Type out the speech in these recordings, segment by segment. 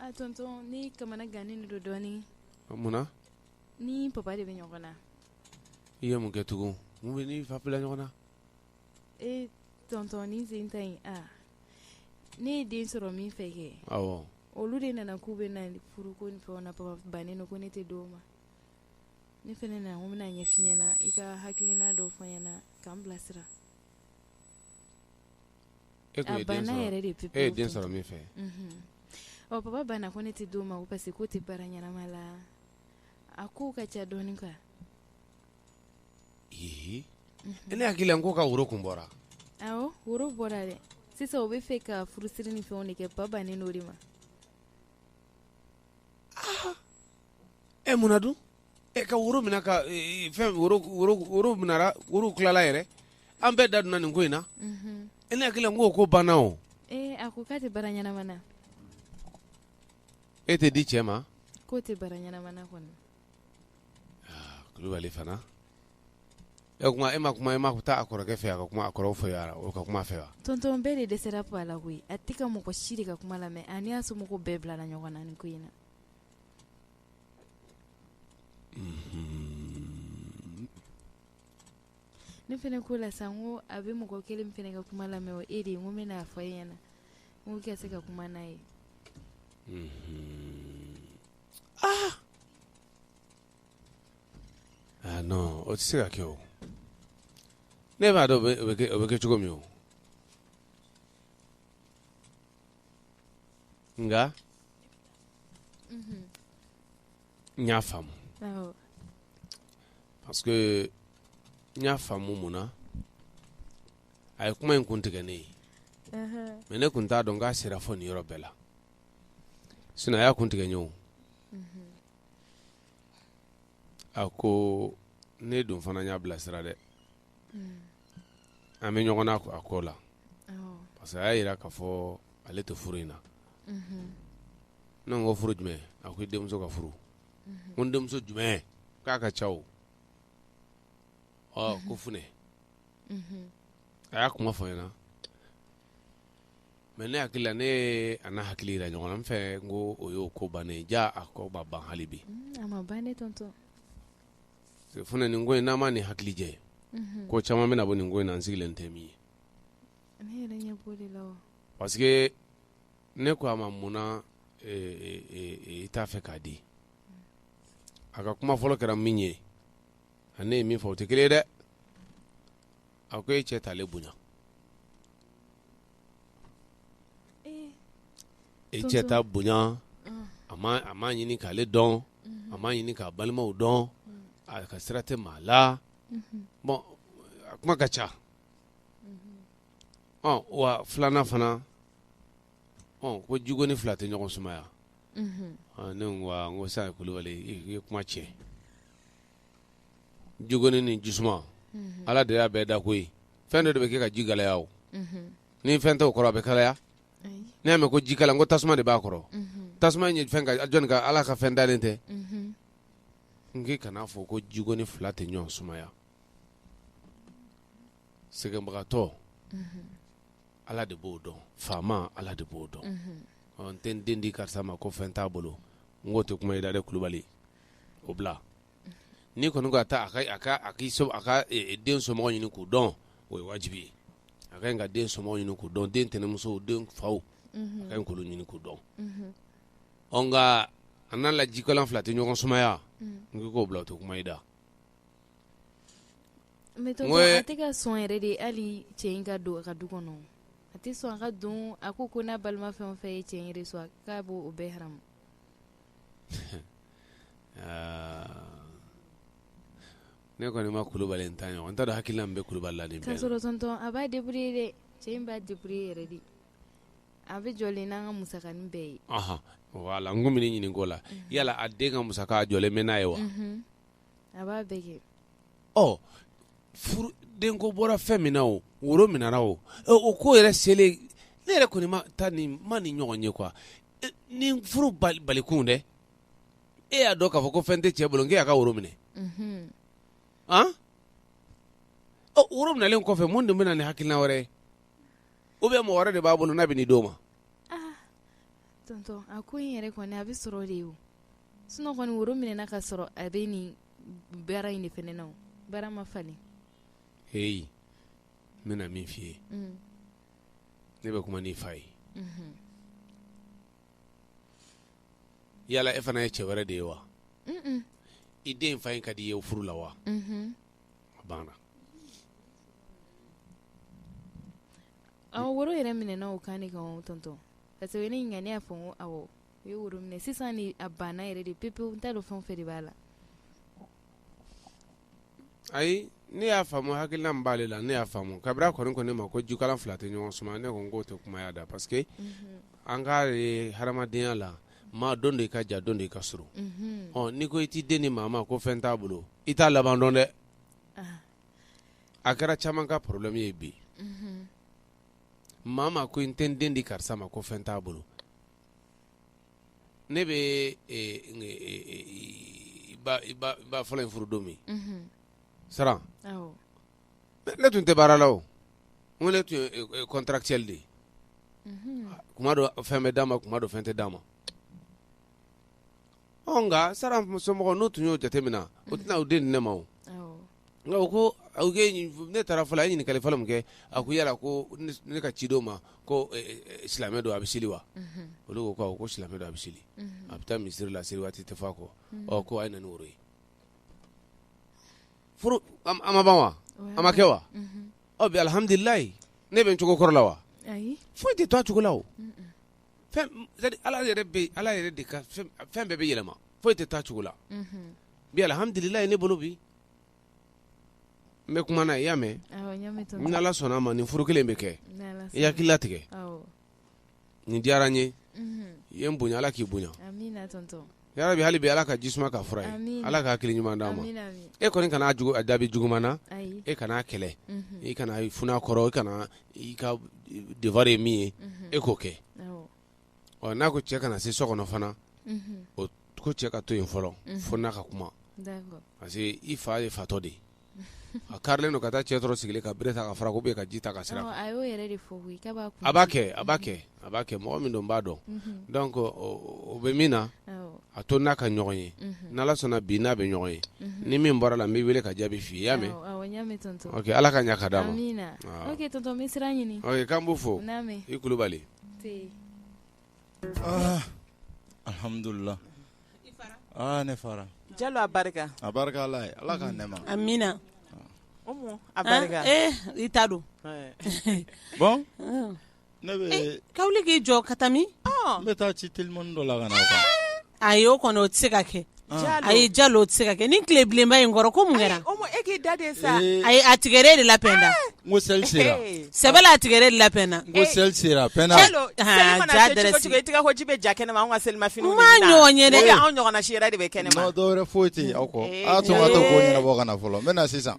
a tɔntɔn ne kamanagannen de don dɔɔnin munna n ni papa de bɛ ɲɔgɔn na i ye mun kɛ tugun mun b'i n'i fa bila ɲɔgɔn na e tɔntɔn ne sen ta yen a ne ye den sɔrɔ min fɛ kɛ olu de nana k'u bɛ na furu ko ni fɛn na papa bannen ko ne tɛ d'o ma ne fana nana n ko n bɛna ɲɛf'i ɲɛna i ka hakilina dɔ fɔ n ɲɛna ka n bilasira E ye den sɔrɔ min fɛ baba banna ko ne tɛ d'o ma parce que k'o tɛ baara ɲɛnama la a ko ka ca dɔɔnin nka e ne hakili la k'o ka woro kun bɔra awɔ woro bɔra dɛ sisan o bɛ fɛ ka furusiri ni fɛnw de kɛ papa bannen o de ma e munna dun e ka woro minɛ ka fɛn woro tilala yɛrɛ an bɛɛ da donna nin ko in na e ne hakili la ko ko banna o a ko k'a tɛ baara ɲɛnama na e tɛ di cɛ ma k'o tɛ baara ɲɛnama na kɔnɔ kulubali fana e kuma e ma kuma e ma ko taa a kɔrɔkɛ fɛ a ka kuma a kɔrɔ fɛ yan o ka kuma fɛ wa tɔntɔn bɛɛ de dɛsɛra ko a la koyi a tɛ ka mɔgɔ si de ka kuma lamɛn a n'a somɔgɔw bɛɛ bilala ɲɔgɔn na nin ko in na Ne fana ko la sa ko a bɛ mɔgɔ kelen fana ka kuma lamɛn o e de ye n ko n bɛn'a fɔ e ɲɛna na n kɛ se ka kuma n'a ye non o tɛ se ka kɛ o ne b'a dɔn o bɛ kɛ cogo min o nka n y'a faamu parce que n y'a faamu mun na a ye kuma in kun tigɛ ne ye mais ne kun t'a dɔn k'a sera fo nin yɔrɔ bɛɛ la sinon a y'a kun tigɛ n ye o a ko ne dun fana y'a bilasira dɛ an bɛ ɲɔgɔn na a ko la parce que a y'a yira k'a fɔ ale tɛ furu in na ne ko furu jumɛn a ko i denmuso ka furu ko n denmuso jumɛn k'a ka ca o ko f a y'a kuma fɔ n ɲɛna mais ne hakili la ne a n'a hakili jira ɲɔgɔn na n fɛ n ko o y'o ko bannen ja a ko ma ban hali bi f nin ko in n'a ma ni hakili ye ko caman bɛna bɔ nin ko in na an sigilen tɛ min ye parce que ne ko a ma munna e, e, e, i t'a fɛ k'a di a ka kuma fɔlɔ kɛra min ye ani ne ye min fɔ o tɛ kelen ye dɛ a ko e cɛ t'ale bonya e cɛ t'a bonya a ma ɲini k'ale dɔn a ma ɲini k'a balimaw dɔn a ka sira tɛ maa la bon a kuma ka ca ɔ wa filanan fana ɔ ko jigoni fila tɛ ɲɔgɔn sumaya ne ko n ko sa kulubali i ye kuma tiɲɛ jigoni ni jisuma ala de y'a bɛɛ da koyi fɛn dɔ de bɛ kɛ ka ji kalaya o ni fɛn t'o kɔrɔ a bɛ kalaya ne y'a mɛn ko jikalan ko tasuma de b'a kɔrɔ tasuma ye jɔnni ka ala ka fɛn dalen tɛ n k'i kana n'a fɔ ko jigoni fila tɛ ɲɔgɔn sumaya sɛgɛnbagatɔ ala de b'o dɔn faama ala de b'o dɔn n tɛ n den di karisa ma ko fɛn t'a bolo n k'o tɛ kuma i da dɛ kulubali o bila n'i kɔni ka taa ka den somɔgɔw ɲini k'u dɔn o ye wajibi ye a ka ɲi ka den somɔgɔw ɲini k'u dɔn den tɛnɛnmusow den faw a ka ɲi k'olu ɲini k'u dɔn nka an n'a la jikalan fila tɛ ɲɔgɔn sumaya n k'i k'o bila o tɛ kuma i da mais tonton a tɛ ka sɔn yɛrɛ de hali cɛ in ka don a ka du kɔnɔ a tɛ sɔn a ka don a ko ko n'a balima fɛn o fɛn ye cɛ sɔn k'a b'o bɛɛ Ne kɔni ma kulubali ta ɲɔgɔn n taara hakili bɛ kulubalibali la de a b'a de de cɛ in b'a deburu yɛrɛ de a bɛ jɔ n' ka musa bɛɛ ye wala n ko ɲini ko la yala a den ka musa jɔ bɛ n'a ye wa denko bɔra fɛn min na o woro minɛra o o ko yɛrɛ selen ne yɛrɛ kɔni ma nin ɲɔgɔn ye quoi ni furu balikun dɛ e y'a dɔn k'a fɔ ko fɛn tɛ cɛ bolo k'e y'a ka woro minɛ woro minɛlen kɔfɛ mun de bɛ na ni hakilina wɛrɛ ye ou bien mɔgɔ wɛrɛ de b'a bolo n'a bɛ nin d'o ma Sinon kɔni woro minɛna k'a sɔrɔ a bɛ nin baara in de fana na o, baara ma falen, heyi, n bɛna min f'i ye, unhun, ne bɛ kuma n'i fa ye, unhun, yala e fana ye cɛ wɛrɛ de ye wa? un un, i den fa in ka d'i ye furu la wa? unhun, a banna, ɔ woro yɛrɛ minɛna o kan de kan tonton parce que o ye ne ɲininka ne y'a fɔ n ko awɔ U ye woro minɛ sisan ni a banna yɛrɛ de pepewu n t'a dɔn fɛn o fɛn de b'a la ayi ne y'a faamu hakilina min b'ale la ne y'a faamu kabini kɔni kɔni ne ma ko jikalan fila tɛ ɲɔgɔn suma ne ko n k'o tɛ kuma' da parce que an ka hadamadenya la maa don de i ka jan don de i ka surun n'i ko i t'i den di maa ma ko fɛn t'a bolo i t'a laban dɔn dɛ a kɛra caman ka problème ye bi maa ma ko n tɛ den di karisa ma ko fɛn t'a bolo ne bɛ i ba fɔlɔ in furu don min Saran ne tun tɛ baara la o ko ne tun contractuel de kuma dɔ fɛn bɛ d'a ma kuma dɔ fɛn tɛ d'a ma nka Saran somɔgɔw n'u tun y'o jateminɛ o tɛna u den di ne ma ko ne taara fɔlɔ a ye ɲininkali fɔlɔ min kɛ a ko yala ko ne ka cidenw ma ko silamɛ don a bɛ seli wa olu ko ko silamɛ don a bɛ seli a bɛ taa misiri la seli waati tɛ fɔ a kɔ ɔ ko a ye na ni woro ye furu a ma ban wa a ma kɛ wa ɔ bi alihamdulilayi ne bɛ n cogo kɔrɔ la wa foyi tɛ to a cogo la ala yɛrɛ bɛ ala yɛrɛ de ka fɛn bɛɛ bɛ yɛlɛma foyi tɛ to a cogo la bi alhamdulilayi ne bolo bi n bɛ kuma na i y'a mɛn ni ala sɔnna a ma nin furu kelen bɛ kɛ i hakili latigɛ nin diyara n ye i ye n bonya ala k'i bonya Ya rabbi hali bi Ala ka jisuma k'a fura ye, amin, Ala ka hakili ɲuman d'a ma, amin, amin, e kɔni kana a jaabi juguman na, ayi, e kana a kɛlɛ, unhun, i kana i fun'a kɔrɔ, i kana i ka devoir ye min ye, unhun, e k'o kɛ, awɔ, ɔ n'a ko cɛ kana se so kɔnɔ fana, unhun, o ko cɛ ka to yen fɔlɔ, unhun, fo n n'a ka kuma, d'accord, parce que i fa ye fatɔ de ye. A karilen don ka taa cɛ sɔrɔ sigilen ka bere ta ka fara ou bien ka ji ta k'a seri a kan, ɔ a y'o yɛrɛ de fɔ koyi k'a b'a kun a b'a kɛ a b'a kɛ a b'a kɛ mɔgɔ min don n b'a dɔn, unhun, donc o bɛ min na, awɔ, a to n n'a ka ɲɔgɔn ye, unhun, n'Ala sɔnna bi n n'a bɛ ɲɔgɔn ye, unhun, ni min bɔra a la n b'i wele ka jaabi f'i ye i y'a mɛn, awɔ n y'a mɛn tonton, ok Ala ka ɲɛ ka d'an ma, amina, ok tonton n bɛ sira ɲini, ok k'an b'u fo, naamu, i Kulubali, nse Alhamdulila ne fara Jalo a barika a barika ala ye ala k'a nɛɛma amina a barika i ta don bon e bɛ ka wuli k'i jɔ ka taa min n bɛ taa ci telimani dɔ la ka na Ayi o kɔni o tɛ se ka kɛ ayi Jalo o tɛ se ka kɛ ni tile bilenba in kɔrɔ ko mun kɛra e da sa ayi a tigi yɛrɛ de labɛnna ko seli sera sɛbɛ a tigi yɛrɛ de labɛnna ko seli sera bɛ ja kɛnɛ ma an ka selimafiniw ma ɲɔgɔn ye ɲɔgɔn si de bɛ kɛnɛ ma foyi tɛ aw kɔ ka na fɔlɔ n bɛ na sisan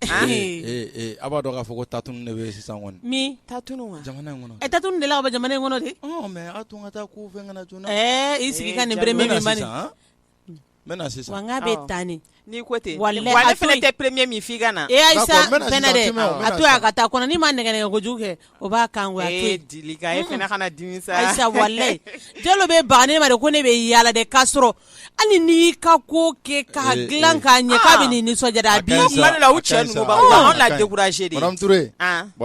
A b'a dɔn k'a fɔ ko tatunu de bɛ sisan kɔnɔ min tatunu kɔnɔ e tatunu de la ka bɔ jamana in kɔnɔ de mɛ a tun ka taa ko fɛn ka joona na i sigi ka nin premier min sisan n bɛ sisan n' bɛ taa ni n'i ko ten wa ne fana tɛ premier min f'i ka na e Ayisa a to a ka taa n'i ma nɛgɛ kojugu kɛ O b'a kan walayi Jalo bɛ ban ne ma de ko ne bɛ yaala de k'a sɔrɔ hali n y'i ka ko kɛ k'a dilan k'a ɲɛ k'a bɛ nin nisɔndiya la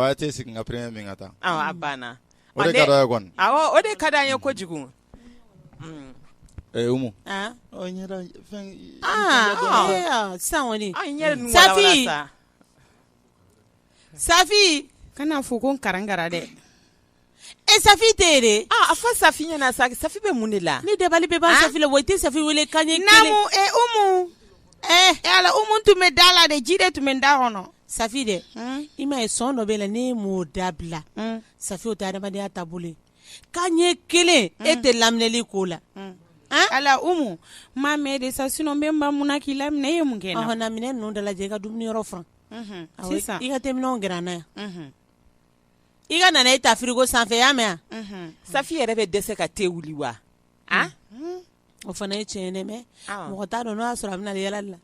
cɛ tɛ sigi ka min ka taa banna o de ka di an ye kojugu Umu sisan Safi Safi kana fɔ ko n karankara dɛ e Safi tɛ de a fɔ Safi ɲɛna sa Safi bɛ mun de la ni dabali bɛ ban Safi la wa i tɛ Safi weele kan ɲɛ kelen namu Umu ala Umu tun bɛ da la de ji de tun bɛ n da kɔnɔ Safi dɛ i ma ye sɔn dɔ b'e la ne m'o dabila Safi o tɛ adamadenya taabolo kan ɲɛ kelen e tɛ laminɛli ko la ala Umu n ma mɛn de sa sinon n bɛ n ban mun na k'i laminɛ e ye mun kɛ na minɛn ninnu dalajɛ i ka dumuni yɔrɔ furan sisan i ka te minɛnw gɛrɛ an na yan i ka nanaye ta frigo sanfɛ y'a mɛn yan Safi yɛrɛ bɛ dɛsɛ ka te wuli wa o fana ye tiɲɛ ye mɛ mɔgɔ t'a dɔn n'o y'a sɔrɔ a bɛ yaalali la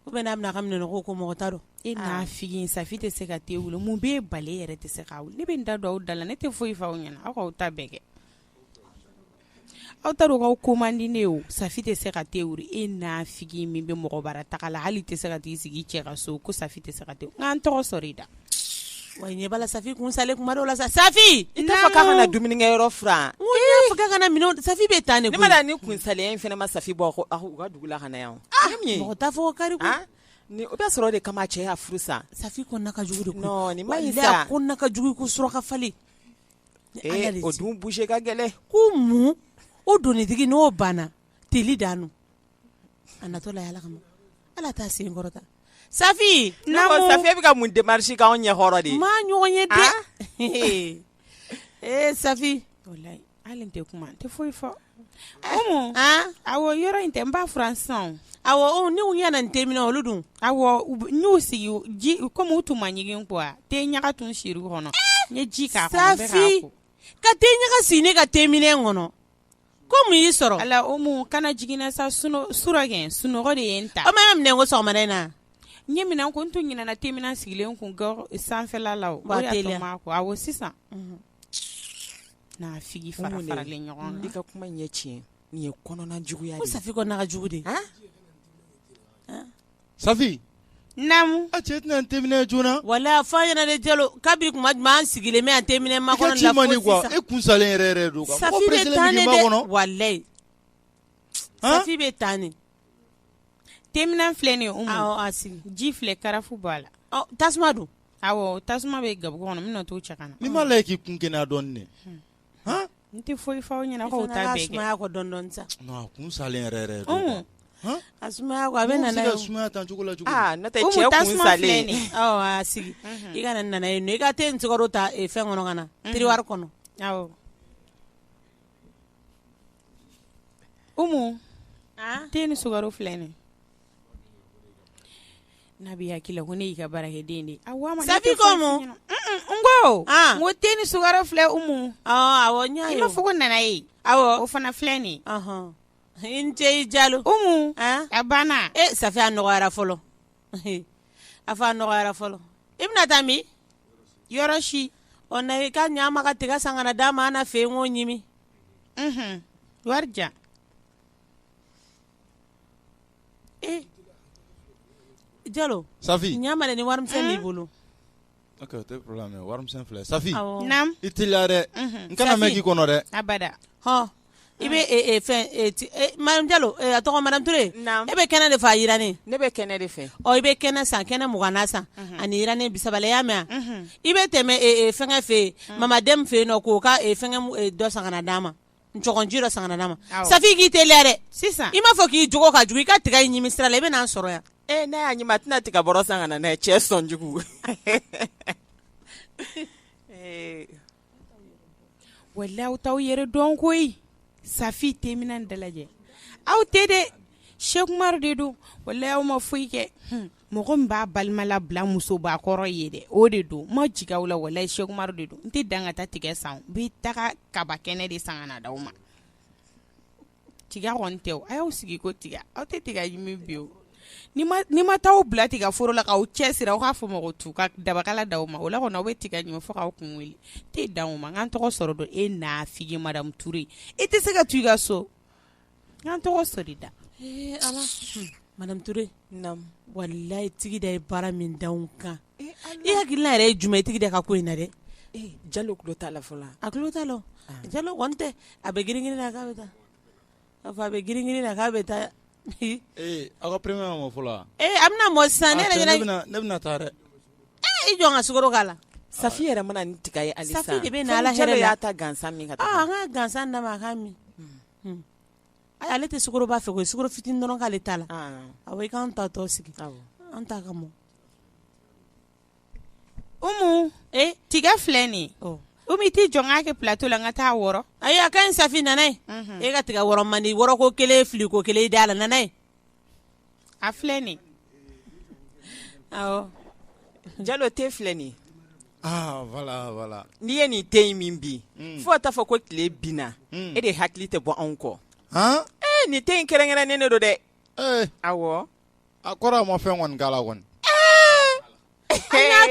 ou bien a bɛ n'a ka minɛn nɔgɔw ko mɔgɔ t'a dɔn e nafigi Safi tɛ se ka te wuli mun b'e bali e yɛrɛ tɛ se k'a wuli ne bɛ n da don aw da la ne tɛ foyi fɔ aw ɲɛna aw k'aw ta bɛɛ kɛ aw taarukaw ko man di ne o Safi tɛ se ka te wuli e nafigi min bɛ mɔgɔ bara taga la hali tɛ se ka t'i sigi cɛ ka so ko Safi tɛ se ka te n kana n tɔgɔ sɔrɔ i da Wa ɲɛ bala Safi kun salen kuma dɔw la sa Safi kana dumunikɛ yɔrɔ furan Safi bɛ taa ni kunsaliya in fana ma Safi bɔ u ka dugu la ka na yan mɔgɔ t'a fɔ kari ni o bɛ sɔrɔ o de kama cɛ y'a furu sa Safi kɔnɔna ka jugu ma ka jugu ko suraka fali o dun bouger ka gɛlɛn ko mun o donitigi n'o banna teli dan A natɔ la ala kama ala t'a sen kɔrɔta Safi bɛ ka mun démarche k'anw ɲɛ kɔrɔ ne ma ɲɔgɔn ye dɛ ee Safi hali n tɛ kuma n tɛ foyi fɔ a yɔrɔ in tɛ n b'a furan sisan awɔ ni u ɲɛna n te minɛn olu dun n y'u sigi ji kɔmi u tun ma ɲigin ko te ɲaga tun siri kɔnɔ n ye ji k'a ka te ɲaga si ne ka te minɛn kɔnɔ ko mun y'i sɔrɔ ala Umu kana jigin n na sa surɔ kɛ sunɔgɔ de ye n ta o ma minɛn ko sɔgɔmada in na n ye minɛn ko n tun ɲinɛna te minɛn sigilen kun sanfɛla la o y'a to n m'a ko awɔ sisan nafigi faralen ɲɔgɔn kan i ka kuma ɲɛ tiɲɛ nin ye kɔnɔna juguya de ye ko Safi kɔnɔna ka jugu de Safi naamu a cɛ tɛna ni teminɛn joona walayi a fɔ a ɲɛna dɛ jalo kabi kuma jumɛn an sigilen bɛ an teminɛn makɔnɔ la e kun salen yɛrɛ don sa kɔnɔ safi bɛ taa ni teminɛn filɛ nin a sigi ji filɛ karafu b'a la tasuma dun tasuma bɛ gabugu kɔnɔ n bɛna t'o cɛ ka na ni m'a lajɛ k'i kun kɛnɛya dɔɔnin n tɛ foyi f'aw ɲɛna k'aw ta sumaya kɔ dɔɔnin dɔɔnin sa kun salen yɛrɛ don a sumaya a bɛ sumaya tan cogo la cɛ sigi i ka nanaye i ka te ni sukaro ta fɛn kɔnɔ ka na tiriwari kɔnɔ ko te ni sukaro filɛ nin N'a b'i hakili la ko ne y'i ka baarakɛden de ye Safi ko mun n ko te ni sukaro filɛ umu awɔ n fɔ ko nanaye awɔ o fana filɛ nin i ni ce i Jalo umu a banna Safi a nɔgɔyara fɔlɔ a fɔ a nɔgɔyara fɔlɔ i bɛna taa min yɔrɔ si ɔ na i ka ɲa ma ka tiga san ka na d'a ma an na fɛ k'o ɲimi wari jalo safi ɲa ma dɛ ni wari misɛn b'i bolo ok o tɛ problème ye wari misɛn filɛ safi awɔ Naamu. i teliya dɛ n kana mɛn k'i kɔnɔ dɛ Abada. hɔ i bɛ e- e- fɛn e- ti- e- madame jalo e, a tɔgɔ madame ture Naamu. e bɛ kɛnɛ de fɛ a jiranen Ne bɛ kɛnɛ de fɛ. ɔ i bɛ kɛnɛ san kɛnɛ mugan na san ani jiranen bisaba la i y'a mɛn a i bɛ tɛmɛ e, e, fɛngɛ fɛ yen mamadɛmu fɛ yen nɔ k'o ka e, fɛngɛ mu- e, dɔ san ka na d'a ma jira san ma sa k'i t dɛ sisan i m'a fɔ k'i j ka i ka tigɛ ɲimi sira la i bɛna sɔrɔ yan e ne y'a ɲɛ tɛna tigɛ bɔ san ka ne cɛ sɔnjugu wa la aw t'aw yɛrɛ dɔn ko safi te dalajɛ aw tɛ de sɛkuma de don wa aw ma foyi kɛ mɔgɔ min b'a balima labila musoba kɔrɔ ye dɛ o de don ma jigin aw la walahi Cheick Oumar de don n tɛ dan ka taa tiga san n bɛ taga kaba kɛnɛ de san ka na d'aw ma tiga kɔni tɛ o a y'aw sigi ko tiga aw tɛ tiga ɲimi bi o ni ma ni ma taa aw bila tiga foro la k'aw cɛsiri aw k'a fɔ mɔgɔ tu ka dabakala d'aw ma o la kɔni aw bɛ tiga ɲimi fo k'aw kun wuli n tɛ dan o ma n k'an tɔgɔ sɔrɔ dɔn e nafigi madamu Ture i tɛ se ka to i ka so k'an tɔgɔ sɔrɔ da ee ala Madame Ture walayi Tigida ye baara min da n kan e hakilila yɛrɛ ye jumɛn ye Tigida ka ko in na dɛ jalo tulo t'a la fɔlɔ a tulo t'a la jalo tɛ a bɛ girin na k'a bɛ taa a fɔ a bɛ girin na k'a bɛ taa ee aw ka premier ma mɔ fɔlɔ ee a bɛna mɔ sisan ne ne bɛna taa dɛ ee i jɔ n ka sukaro k'a la safi yɛrɛ mana nin tiga ye ali de bɛ ala y'a ta gansan min ka taa an ka gansan da a ka min ale tɛ b'a fɛ o fit dɔrɔn'ale ta la a kan ta tɔ sigi an ta ka mɔ o tiga filɛ nin o bɛ tɛ jɔn kɛ pto la ka taa wɔɔrɔ a a ka in sanfin nana e ka tigɛ man di wɔɔrɔ ko kelen fili ko kelen da a la n ye a filɛ nin jalo te filɛ nin voilà voilà n'i ye nin te in min bi fo ka taa fɔ ko tile binna e de hakili tɛ bɔ anw kɔ nin te in kɛrɛnkɛrɛnnen de don dɛ awɔ a kɔrɔ a ma fɛn kɔni k'a la kɔni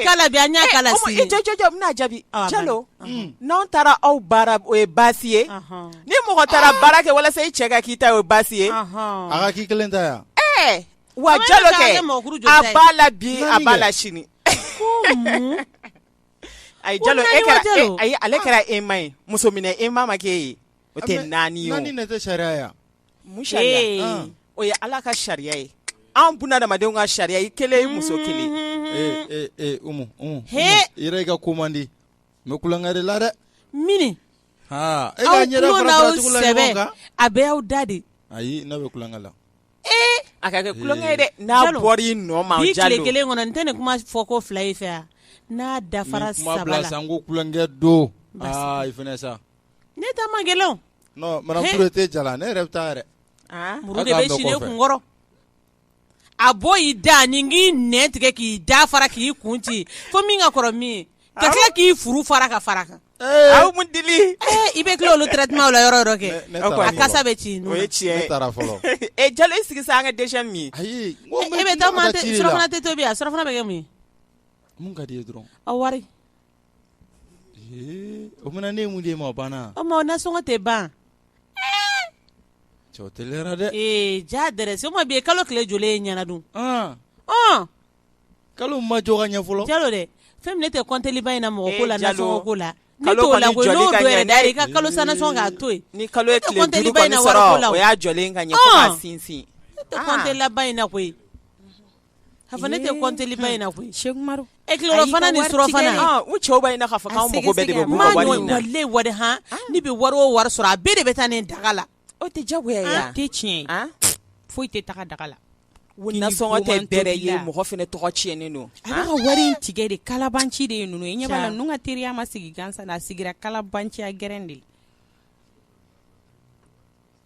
kala bi an y'a kala sini, e, e, jɔ jɔ n bɛna jaabi Jalo n'anw taara aw bara o ye baasi ye ni mɔgɔ taara ah! baara kɛ walasa i cɛ ka k'i ta ye o ye baasi ye a ka k'i kelen ta yan ɛɛ wa Jalo kɛ a b'a la bi a b'a la sini ayi Jalo e kɛra e, ayi ale kɛra ema ye muso minɛ ema ma k'e ye o tɛ naani ye o naani de tɛ sariya ye wa Mun sariya? Ee, Ɔn. o ye Ala ka sariya ye. Anw bunadamadenw ka sariya i kelen i muso kelen. Ee ee ee Umu Umu. He! Umu, I yɛrɛ i ka ko man di. N bɛ kulonkɛ de la dɛ. Mini. Haa e aw ka ɲɛda tulo fara n'aw fara tugu la sɛbɛ ɲɔgɔn kan. a bɛɛ y'aw da de. Ayi ne bɛ kulonkɛ la. Ee a ka kɛ kulonkɛ ye dɛ. N'a Jalo, bɔra i nɔ ma bi Jalo. tile kelen kɔnɔ n tɛ nin kuma fɔ ko fila ye fɛ yan n'a dafara Nin kuma saba bila la sa n ko kulonkɛ don. Basi. Aa i fana sa. Ne ta man gɛlɛn o non madame Ture te ja la ne yɛrɛ bɛ taa yɛrɛ aa muru de bɛ si ne kun kɔrɔ a bɔ i da ni k'i nɛn tigɛ k'i da fara k'i kun ci fo min ka kɔrɔ min ye ka tila k'i furu fara ka fara a kan aw mun dili i bɛ tila olu traitement la yɔrɔ yɔrɔ kɛ a kasa bɛ ci o ye tiɲɛ ye ne taara fɔlɔ e jalo i sigi sa an ka deuxième min ayi e bɛ taa surafana tɛ tobi a surafana bɛ kɛ mun ye min ka d'i ye dɔrɔn a wari O fana ne ye min d'e ma o banna o ma nasɔngɔ tɛ ban cɛ dɛ ee ja dɛ se bi ye kalo tile joli ye ɲɛna dun kalo ma jɔ ka ɲɛ fɔlɔ jalo dɛ fɛn min ne tɛ kɔnteli ba in na mɔgɔ ko la nasɔngɔ ko la i ka kalo sa nasɔngɔ k'a to yen ni kalo in sinsin ne tɛ kɔnteli ba in na koyi ne tɛ kɔnteli ba in na koyi se e tilerɔfana ni surɔfana cɛw b'a ɲini k'a fɔ k'anw mako bɛɛ de b'u ka wari in na wari h ne bɛ wari o wari sɔrɔ a bɛɛ de bɛ taa nin daga la o tɛ diyagoya ye a tɛ tiɲɛ ye foyi tɛ taga daga la nasɔngɔ tɛ bɛrɛ ye mɔgɔ fana tɔgɔ tiɲɛnen don a bɛ ka wari in tigɛ de kalabanci de ye ninnu ye ɲɛ b'a la ninnu ka teriya ma sigi gansan a sigira kalabanciya gɛrɛn de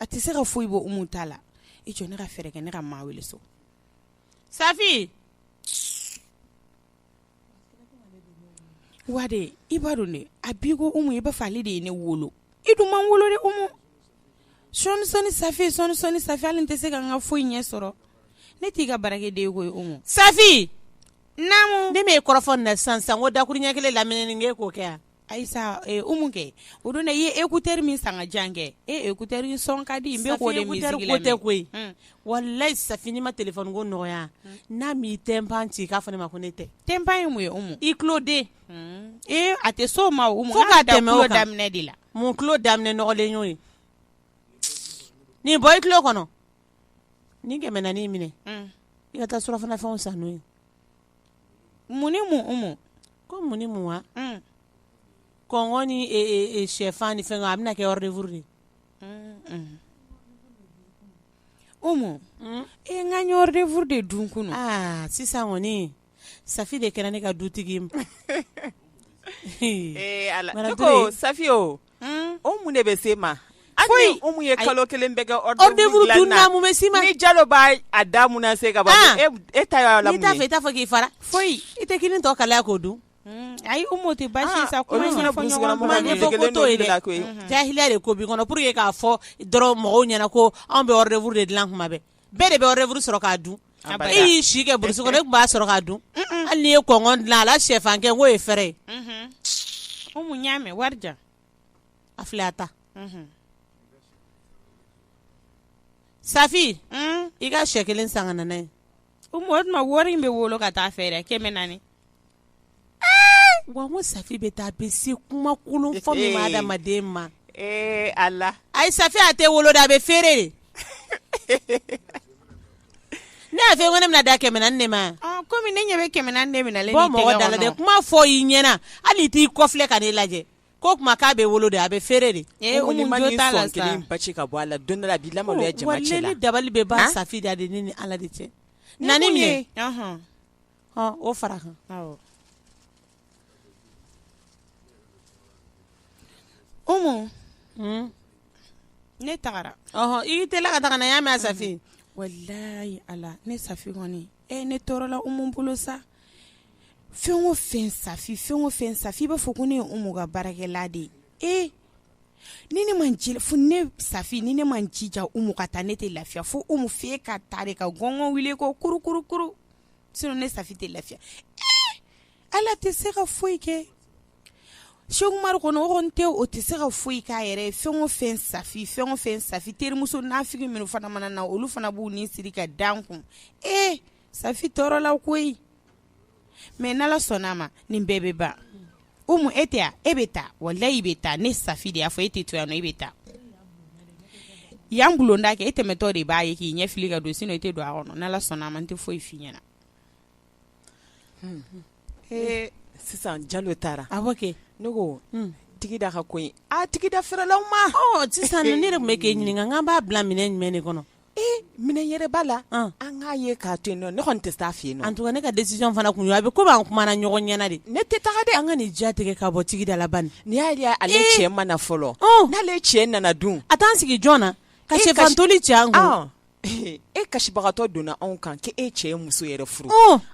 a tɛ se ka foyi bɔ umu ta la i jɔ ne ka fɛɛrɛ kɛ ne ka maa wele so safi wa de i b'a dɔn dɛ a b'i ko umu i b'a fɔ ale de ye ne wolo i dun ma n wolo dɛ umu sɔɔni sɔɔni safi sɔɔni sɔɔni safi hali n tɛ se ka n ka foyi ɲɛ sɔrɔ ne t'i ka baarakɛden ye koyi umu safi naamu ne m'e kɔrɔfɔ nin na sisan sisan ko dakuruɲɛ kelen lamini k'o kɛ yan Ayisa Umu kɛ o don dɛ i ye écouteur min san k'a di yan kɛ e écouteur in son ka di n bɛ k'o de musique lamɛn Safi écouteur ko tɛ koyi walahi Safi n'i ma téléphone ko nɔgɔya n'a m'i tympan ci k'a fɔ ne ma ko ne tɛ tympan ye mun ye Umu i tuloden ee a tɛ s'o ma Umu fo ka tɛmɛ o kan fo ka dan tulo daminɛ de la mun tulo daminɛ nɔgɔlen y'o ye nin bɔ i tulo kɔnɔ nin kɛmɛ naani in minɛ i ka taa surɔfanafɛnw san n'o ye Mun mun ko mun mun wa kɔn ni shɛfan ni fɛn a bɛna kɛ yɔrɔ de furu de o ma e n ka ɲɔgɔn de furu de dun kun sisan kɔniɔni sa de kɛra ne ka dutigi ma sa o o mun de bɛ s'i ma foyi umu ye kalo kelen bɛɛ kɛ hors-d'œuvre dun na mun bɛ s'i ma jalo b'a a da se ka e ta la fɛ i t'a fɔ k'i fara foyi i tɛ kini tɔ kalaya k'o dun ayi tɛ basi sa ko jahiliya de ko b'i kɔnɔ pour que k'a fɔ dɔrɔn mɔgɔw ɲɛna ko anw bɛ hors-d'œuvre de dilan kuma bɛɛ bɛɛ de bɛ hors-d'œuvre sɔrɔ k'a dun, abada, e y'i si kɛ brousse kɔnɔ e tun b'a sɔrɔ k'a dun, un un, hali n'i ye kɔnkɔn dilan a la sɛfan kɛ k'o ye fɛrɛ ye, unhun, Umu n y'a mɛn wari di yan, a filɛ a ta, unhun, Safi, un, i ka sɛ kelen san ka na n'a ye, Umu o tuma wari in bɛ wolo ka taa fɛ dɛ kɛmɛ naani wa ko safi bɛ taa bɛ se kumakolon fɔ min ma adamaden ma ala ayi safi a tɛ wolo de a bɛ feere de ne y'a fɔ ko ne bɛna dan kɛmɛ naani de ma kɔmi ne ɲɛ bɛ kɛmɛ naani minɛ bɔ mɔgɔ da la dɛ kuma fɔ i ɲɛna hali i t'i kɔfilɛ ka ne lajɛ ko kuma k'a bɛ wolo de a bɛ feere de ba ci ka bɔ a la don la bi la dabali bɛ ban safi da de ne ni ala de cɛ naani minɛ o fara kan umu ne tagara i teliya ka taa n y'a mɛn safi walayi ala ne safi kɔni e ne tɔɔrɔla umu bolo sa fɛn o fɛn safi fɛn o fɛn safi i b'a fɔ ko ne ye umu ka baarakɛla de ye e ni ne ma f ne safi ni ne ma n jija umu ka taa ne tɛ lafiya fo umu f'a ka taa de ka gɔngɔn wuli ko kurukuru ne safi tɛ lafiya ala tɛ se ka foyi kɛ cheick oumar kɔnɔ o kɔni tɛ o tɛ se ka foyi k'a yɛrɛ fɛn o fɛn safi fɛn o fɛn safi terimuso nafigi minnu fana mana na olu fana b'u ni siri ka da n kun e safi tɔɔrɔla koyi mais n'ala sɔnna a ma nin bɛɛ bɛ ban umu e tɛ e bɛ taa walayi i bɛ taa ne safi de y'a fɔ e tɛ to yan nɔ i bɛ taa yan bulonda kɛ e tɛmɛtɔ de b'a ye k'i ɲɛ fili ka don sinon i tɛ don a kɔnɔ n'ala sɔnna a ma n tɛ foyi f'i ɲɛna sisan jalo taara a kɛ ne ko tigida ka ko in tigida fɛrɛla ma sisan ne de tun bɛ k'e ɲininka k'an b'a bila minɛn jumɛn de kɔnɔ ee minɛn yɛrɛ b'a la an k'a ye k'a to yen nɔ ne kɔni tɛ taa fɛ yen nɔ en tout cas ne ka décision fana tun ye a bɛ komi an kumana ɲɔgɔn ɲɛna de ne tɛ taga dɛ an ka nin ja tigɛ ka bɔ tigida la bani n'i y'a ye ale cɛ ma na fɔlɔ n'ale cɛ nana dun a t'an sigi jɔn na ka sɛfan toli cɛ an kun e kasibagatɔ donna anw kan k'e cɛ ye muso yɛrɛ furu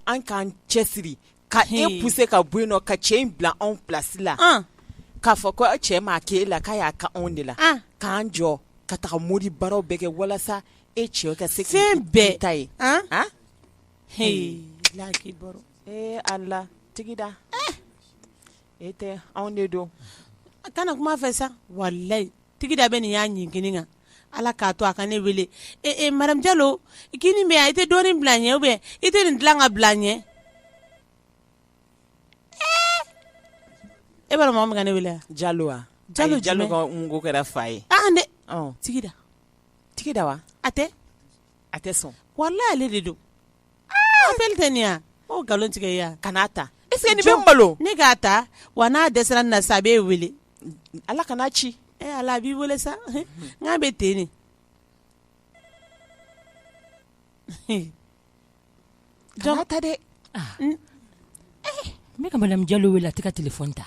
an k'an cɛsiri ka e poussé ka bɔ yen nɔ ka cɛ in bila anw place la k'a fɔ ko cɛ m'a kɛ e la k'a y'a k'anw de la k'an jɔ ka taga modi baaraw bɛɛ kɛ walasa e cɛ ka se fɛn bɛɛ ta ye ee ala tigida e tɛ anw de don a kana kuma fɛ sa walayi tigida bɛ nin y'a ɲin kelen kan ala k'a to a ka ne wele ee madame jalo kini bɛ yan i tɛ dɔɔnin bila n ɲɛ ou bien i tɛ nin dilan ka bila n ɲɛ e b'a dɔn mɔgɔ min ka ne wele jalo wa jalo jalo ka ko kɛra fa ye dɛ tigida tigida wa a tɛ a tɛ sɔn walayi ale de don nkalon tigɛ ya kana ta est-ce que nin bɛ malo ne k'a ta wa n'a dɛsɛra nin na sa a b'e weele ala kana ci e ala b'i weele sa n k'a bɛ ten ne jɔn ta dɛ n bɛ ka madame jalo weele a tɛ ka téléphone ta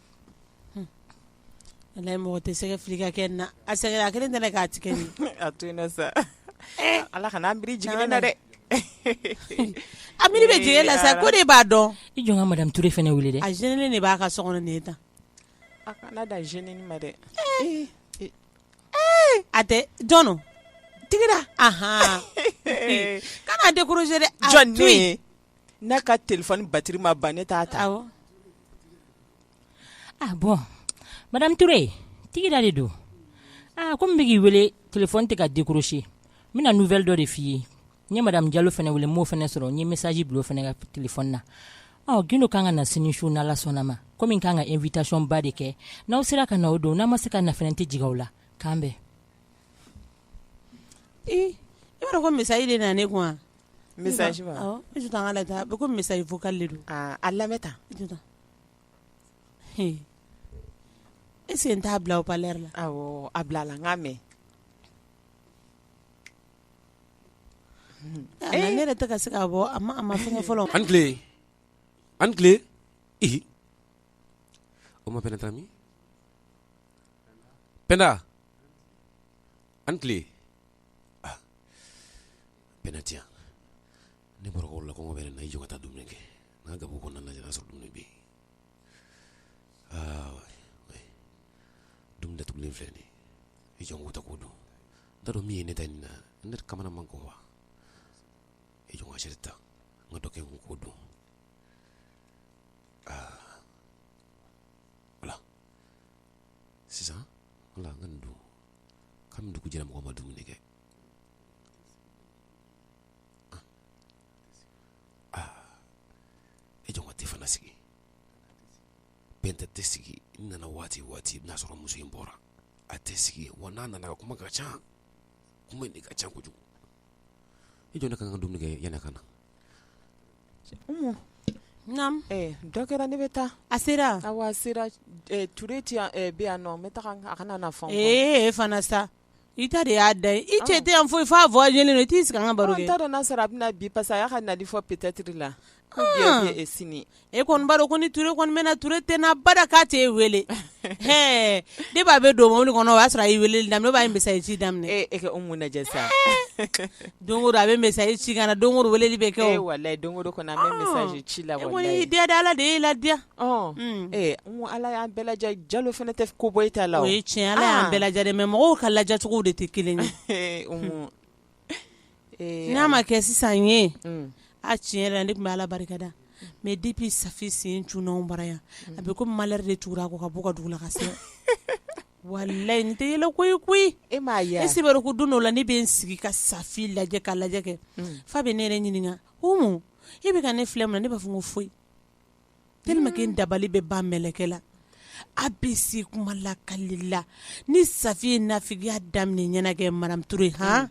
Ala mɔgɔ tɛ sɛgɛ fili ka kɛ na a sɛgɛnna a kelen k'a tigɛ a to sa ala kan'an miri jigin na dɛ a miri bɛ jigin la sa ko de b'a dɔn i jɔ n ka madame touré fana wele dɛ a jeune de b'a ka so kɔnɔ nin ta a kana da jeune ma dɛ a tɛ jɔn tigida kana décrocher dɛ jɔn n'a ka téléphone batiri ma ban ne t'a ta awɔ bon madame touré tigida de don aa comme n bɛ k'i wele téléphone tɛ ka décrocher n bɛna nouvelle dɔ de f'i ye n ye madame jalo fana wele n m'o fana sɔrɔ n ye message bila o fana ka téléphone na ɔ gundo ka kan ka na sini su n'ala sɔnna ma komi n ka kan ka invitation ba de kɛ n'aw sera ka na o don n'a ma se ka na n tɛ jigin aw la k'an bɛn i yɔrɔ ko message de na ne message wa awɔ i jɔ tan an k'a lajɛ a bɛ komi message vocal de don aa a lamɛn tan i jɔ tan he est ce que n t'a bila haut parleur la awɔ a bila a la n k'a mɛn a la ne yɛrɛ tɛ ka se k'a bɔ a ma a ma fɛngɛ fɔlɔ an tile an tile ihi o ma pɛnɛ tami pɛnda an tile ah. Pɛnda tɛ yan ne bɔra cours la kɔngɔ bɛ ne na i jɔ n ka taa dumuni kɛ n ka gabugu kɔnɔna lajɛ n'a sɔrɔ dumuni bɛ yen aa oui dumuni datugulen filɛ nin ye i jɔ n k'o ta k'o dun n t'a dɔn min ye ne ta nin na ne ka mama makɔnɔ wa i jɔ n ka assiette ta n ka dɔ kɛ n kun k'o dun aa voilà sisan wala n ka nin dun kabini dugu jɛra mɔgɔ ma dumuni kɛ E jɔ a tɛ fana sigi Pɛnda tɛ sigi n nana waati o waati i bɛn'a sɔrɔ muso in bɔra a tɛ sigi wa n'a nana a ka kuma ka ca kuma nin ka ca kojugu i jɔ ne ka kan ka dumuni kɛ yanni a ka na dɔ kɛra ne bɛ taa a sera a sera Ture bɛ yan nɔ n bɛ taa a kana na fɛn fɔ e fana sa i ta de y'a da ye i cɛ tɛ yan foyi f'a voyagélen don i t'i sigi an ka baro kɛ, ɔ n t'a dɔn n'a sɔrɔ a bɛ na bi parce que a y'a ka nali fɔ peut être la ko bi ou bien sini, e kɔni b'a dɔn ko ni Ture kɔni bɛ na Ture tɛ na abada k'a t'e wele, ɛɛ depuis a bɛ don mɔbili kɔnɔ o y'a sɔrɔ a ye weleli daminɛ ou bien a ye message ci daminɛ, ee e ka Umu lajɛ sa, don o don a bɛ message ci ka na don o don weleli bɛ kɛ o, ee walahi don o don kɔni an bɛ message ci la walahi, e kɔni y'i diya dɛ Ala de y'e ladiya Ala y'an bɛɛ lajɛ Jalo fana tɛ ko bɔ i ta la o ye tiɲɛ ala y'an bɛɛ lajɛ mais mɔgɔw ka lajɛcogo de tɛ kelen ye n'a ma kɛ sisan ye a tiɲɛ yɛrɛ la ne tun bɛ ala barika da mais depuis Safi sen cunna bara yan a bɛ comme malheur de tugura a kɔ ka bɔ a ka dugu la ka se walahi nin tɛ yɛlɛko ye koyi e m'a ye est ce que i b'a dɔn ko don dɔ la ne bɛ n sigi ka Safi lajɛ k'a lajɛ kɛ f'a bɛ ne yɛrɛ ɲininka Umu e bɛ ka ne filɛ mun na ne b'a fɔ ko foyi tellement que n dabali bɛ ban mɛlɛkɛ la a bɛ se kuma lakali la ni Safi ye nafigiya daminɛ i ɲɛ na kɛ madame Ture han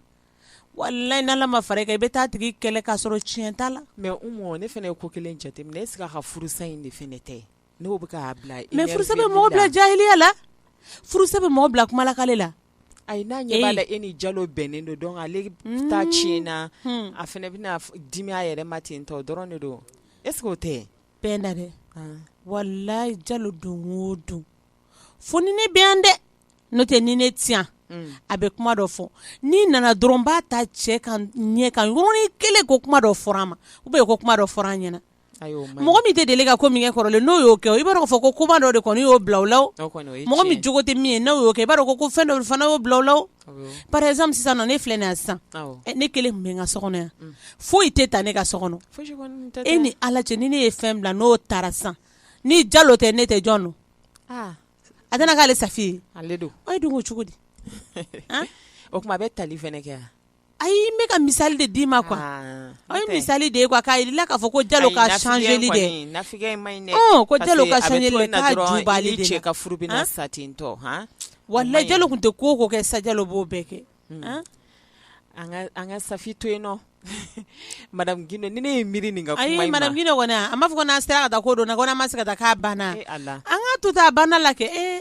walahi n'Ala ma fara i kan i bɛ taa a tigi kɛlɛ k'a sɔrɔ tiɲɛ t'a la mais Oumou ne fana ye ko kelen jateminɛ est ce que a ka furusa in de fana tɛ n'o bɛ k'a bila énerver li la mais furusa bɛ mɔgɔ bila jahiliya la furusa bɛ mɔgɔ bila kuma lakali la ayi n'a ɲɛ b'a la e ni Jalo bɛnnen don donc ale ta tiɲɛna a fana bɛna dimi a yɛrɛ ma ten tɔ o dɔrɔn de don e o tɛ bɛn na dɛ walayi jalo don o don fo ni ne bɛ yan dɛ n'o tɛ ni ne tɛ yan a bɛ kuma dɔ fɔ ni nana dɔrɔn b'a ta cɛ ka ɲɛ ka yɔrɔnin kelen ko kuma dɔ fɔra a ma ou bien ko kuma dɔ fɔra an ɲɛna mɔgɔ min tɛ deli ka ko min kɛ kɔrɔlen n'o y'o kɛ i b'a dɔn k'a fɔ ko kuma dɔ de kɔni y'o bila o la mɔgɔ min jogo tɛ min ye n'o y'o kɛ i b'a dɔn ko fɛn dɔ fana y'o bila o la par exemple sisan nɔ ne filɛ nin yan sisan ne kelen bɛ n ka so kɔnɔ yan foyi tɛ taa ne ka so kɔnɔ e ni ala cɛ ni ne ye fɛn bila n'o taara sisan ni jalo tɛ ne tɛ jɔn don a tɛna k'ale safi ye ale don o ye dun cogo di o kuma a bɛ tali kɛ yan A y'i bɛka ka misali de d'i ma kuwa a ye misali de ye kuwa k'a la k'a fɔ ko ja ka sanjli de ka sa ten wa lajɛjalo tun tɛ ko ko kɛ sa jalo b'o bɛɛ kɛ an ka sa to yen nɔn ni ne ye miiri nin a b'a fɔ n'a sera ka taa ko don na ko ma se ka taa' banna an ka to taa a banna la kɛ e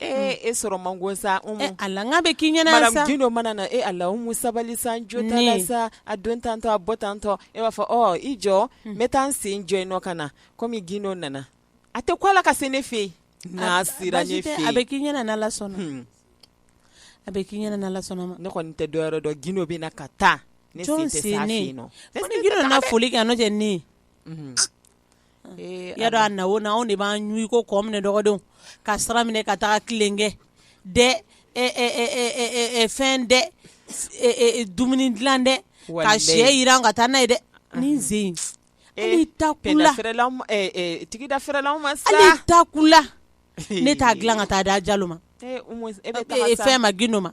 Ee e sɔrɔ man go sa Umu. Ala n k'a bɛ k'i ɲɛna yan sa. Madame gindo mana na e Ala Umu sabali sa n jo t'a la sa. Ne. A don tantôt a bɔ tantôt e b'a fɔ ɔ i jɔ n bɛ taa n sen jɔ yen nɔ ka na komi gindo nana a tɛ ko Ala ka se ne fɛ yen. N'a sera ne fɛ yen. Baasi tɛ a bɛ k'i ɲɛna n'Ala sɔnna. Hun. A bɛ k'i ɲɛna n'Ala sɔnna ma. Ne kɔni tɛ dɔwɛrɛ dɔn gindo bɛ na ka taa. Jɔn sen ne. Ne sen tɛ s'a fɛ yen nɔ. Ko ni gindo nana foli kɛ yan n'o tɛ ne. Unhun. Y'a dɔn a na o na anw de b'an ɲ ko kɔ minɛ dɔgɔdenw ka sira minɛ ka taga tilen kɛ dɛ fɛn dɛ dumuni dilan dɛ ka sɛ yiran ka taa n'a ye dɛ ni n sen e ta tigida ta kula ne t'a dilan ka taa da jalo ma e fɛn ma gindo ma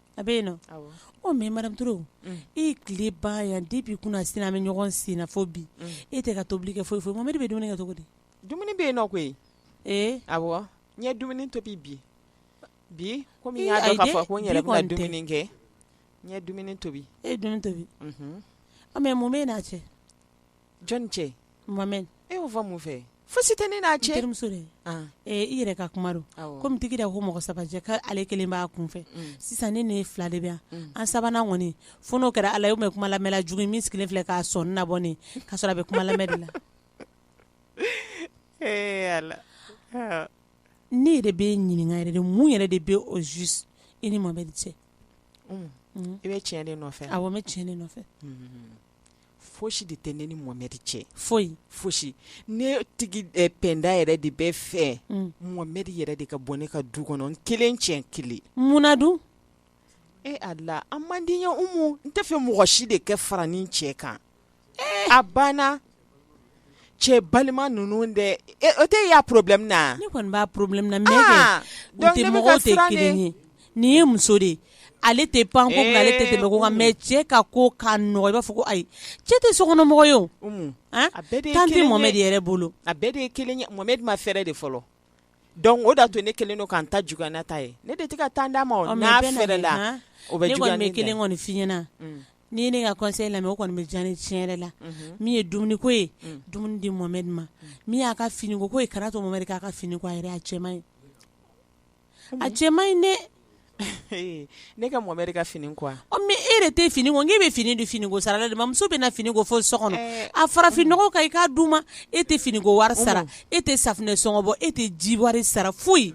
A bɛ yen nɔ o mɛ maramuso duuruuru e tile ba yan di b'i kun sin bɛ ɲɔgɔn senfɔ bi e tɛ ka tobili kɛ foyi fɔ ma bɛ dumuni kɛ cogo di dumuni bɛ yen nɔ koyi ee a n ɲɛ dumuni to bi bi bi kɔmi y'a kɛ ɲɛ tobi e tobi an mɛ mun bɛ n'a cɛ jɔnni cɛ mohamed e y'o fɔ mun fɛ fosi tɛ ne n'a cɛ terimuso dɛ i yɛrɛ ka kuma don kɔmi tigi da ko mɔgɔ saba ka ale kelen b'a kun fɛ mm. sisan ne n'e fila de bɛ yan mm. an sabanan kɔni fo n'o kɛra ala ye o kuma lamɛnla jugu min sigilen filɛ k'a sɔnin nabɔ ne k'a sɔrɔ a bɛ kuma lamɛn de la ne yɛrɛ b'e ɲininka yɛrɛ de mun yɛrɛ de bɛ au juste i ni mohamed cɛ mm. i bɛ tiɲɛ de nɔfɛ awɔ n bɛ tiɲɛ de nɔfɛ fosi de tɛ ne ni mohamed cɛ foyi fosi ne tigi penda yɛrɛ de b'a fɛ mohamed yɛrɛ de ka bɔ ne ka du kɔnɔ n kelen cɛ kelen munna dun e ala a man di n ye umu n t'a fɛ mɔgɔ si de kɛ fara ni cɛ kan a banna cɛ balima ninnu dɛ e o tɛ e y'a problème ye wa, ne kɔni b'a problème na mais kɛ, aa, donc ne bɛ ka siran de, u tɛ mɔgɔw tɛ kelen ye, nin ye muso de ye ale tɛ pan ko kunna ale tɛ tɛmɛ ko kan mais cɛ ka ko ka nɔgɔ i b'a fɔ ko ayi, cɛ tɛ sokɔnɔmɔgɔ ye o, Umu, a bɛɛ de ye kelen ye, temps tɛ Mohamɛdi yɛrɛ bolo, a bɛɛ de ye kelen ye Mohamɛdi ma fɛrɛ de fɔlɔ Dɔnku o da tun ne kelen don k'an ta j ne ta ye ne de tɛ ka taa d'a ma la o bɛ kelen kɔni fi ɲɛnaɲɛna ni ne ka kɔse lamɛn o kɔni bɛ jan ni tiɲɛ yɛrɛ la min ye dumuniko ye dumuni di mɔme ma min y'a ka finiko ye kara to k'a ka fini a cɛ ye a cɛ in ne ne ka Mohamɛdi ka fini ko wa e yɛrɛ tɛ fini ko nk'e bɛ fini di fini ko sara la de ma muso bɛ na fini ko fo so kɔnɔ a fara fini nɔgɔ kan i k'a d'u ma e tɛ fini ko wari sara e tɛ safunɛ sɔngɔ bɔ e tɛ ji wari sara foyi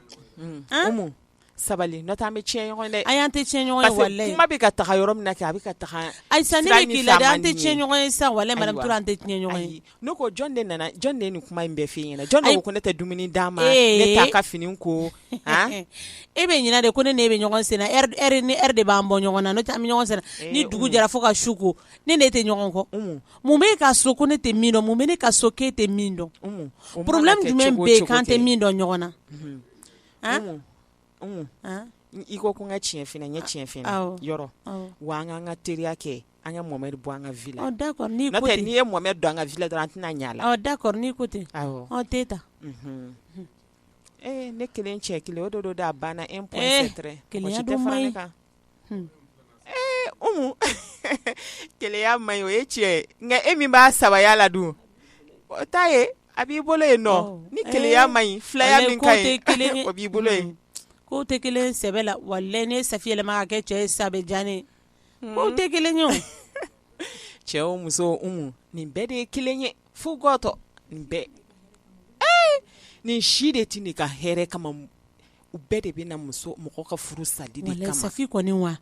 sabali n'o tɛ an bɛ tiɲɛ ɲɔgɔn na ayi an tɛ tiɲɛ ɲɔgɔn la kuma bɛ ka taga yɔrɔ min na kɛ a bɛ ka taa ayi an tɛ tiɲɛ ɲɔgɔn ye sa wallahi madame Ture an tɛ tiɲɛ ɲɔgɔn ye Ne ko jɔn de nana jɔn de ye nin kuma in bɛɛ f'i ɲɛna jɔn ko ne tɛ dumuni d'a ma ne t'a ka fini ko e bɛ ɲinɛ de ko ne n'e bɛ ɲɔgɔn senna heure ni heure de b'an bɔ ɲɔgɔn na n'o tɛ an bɛ ɲɔgɔn senna ni dugu jɛra fo ka su ko ne n'e tɛ ɲɔgɔn kɔ mun b'e ka so ko ne tɛ min dɔn mun bɛ ne ka so k'e tɛ min dɔn problème jumɛn bɛ yen k'an tɛ min dɔn ɲɔgɔn na i ko ko n ka tiɲɛ f'i ɲɛna n ye tiɲɛ f'i ɲɛna yɔrɔ wa an k'an ka teriya kɛ an ka Mohamɛdi bɔ an ka vie la d'accord n'i ye Mohamɛdi don an ka vie la dɔrɔn an tɛna ɲɛ a la d'accord n'i ko ten t'e ta ee ne kelen cɛ kelen o de don a banna e kelenya man ɲi o ye tiɲɛ nka e min b'a sabaya la dun o t'a ye a b'i bolo yen nɔ ni kelenya man ɲi filaya min ka ɲi o b'i bolo yen k'o tɛ kelen sɛbɛ la wallahi ni Safi yɛlɛma ka kɛ cɛ ye sa bɛ diya ne o tɛ kelen ye cɛ o muso nin bɛɛ de ye kelen ye fo gatɔ nin bɛɛ ee nin si de tɛ n'i ka hɛrɛ kama u bɛɛ de bɛ na mɔgɔ ka furu sali de kama wallahi Safi kɔni wa